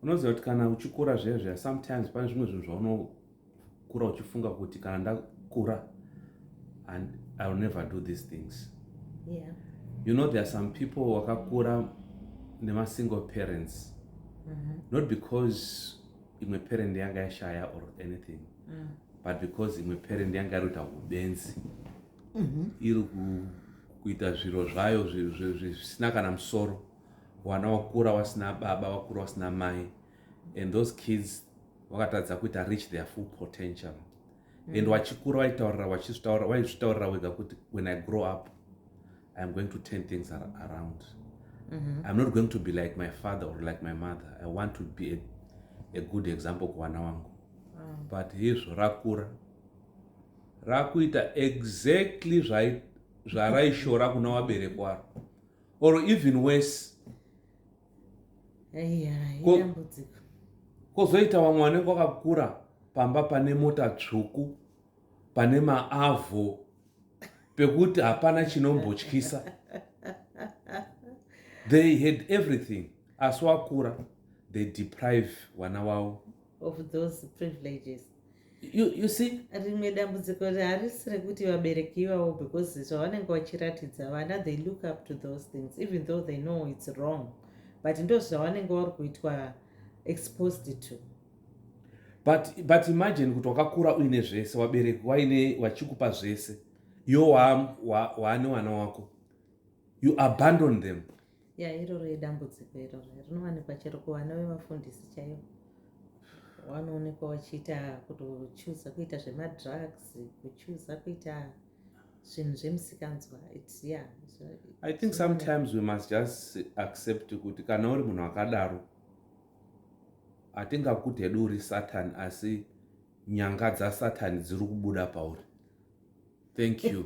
unoziva kuti kana uchikura zviya zviya sometimes pane zvimwe zvinhu zvaunokura uchifunga kuti kana ndakura and i will never do these things yeah. you know there are some people wakakura nemasingle parents mm -hmm. not because imwe parent yanga yashaya or anything mm. but because imwe parent yanga iri kuita ubenzi mm -hmm. iri kuita zviro zvayo zvisina kana musoro wana wakura wasina baba wakura wasina mai and those kids vakatadza kuita reach their full potential mm. and wachikura waitaurira wachizvitaurira waizvitaurira wega kuti when i grow up iam going to turn things ar around mm -hmm. iam not going to be like my father or like my mother i want to be a, a good example kuwana wangu mm. but hizvo rakura rakuita exactly zvaraishora kuna waberekwaro or even worse kozoita vamwe vanenge vakakura pamba pane mota tsvuku pane maavho pekuti hapana chinombotyisa they had everything asi wakura they deprive vana wavo of those privileges you, you see rimwe dambudziko harisi rekuti vabereki ivavo because zvavanenge vachiratidza vana they look up to those things even though they know it's wrong but ndo zvavanenge vari kuitwa exposed to but, but imagine kuti wakakura uine zvese wabereki waine wachikupa zvese yo waane wana wako you abandon them ya iroro idambudziko iroro rinowanikwa chero kuvana vevafundisi chaivo wanoonekwa wachiita kutochuza kuita zvemadrugs kuchuza kuita zvinhu zvemusikanzwa yeah, so, i think sometimes we must just accept kuti kana uri munhu akadaro hatingakuti hedu uri satan asi nyanga dzasatani dziri kubuda pauri thank you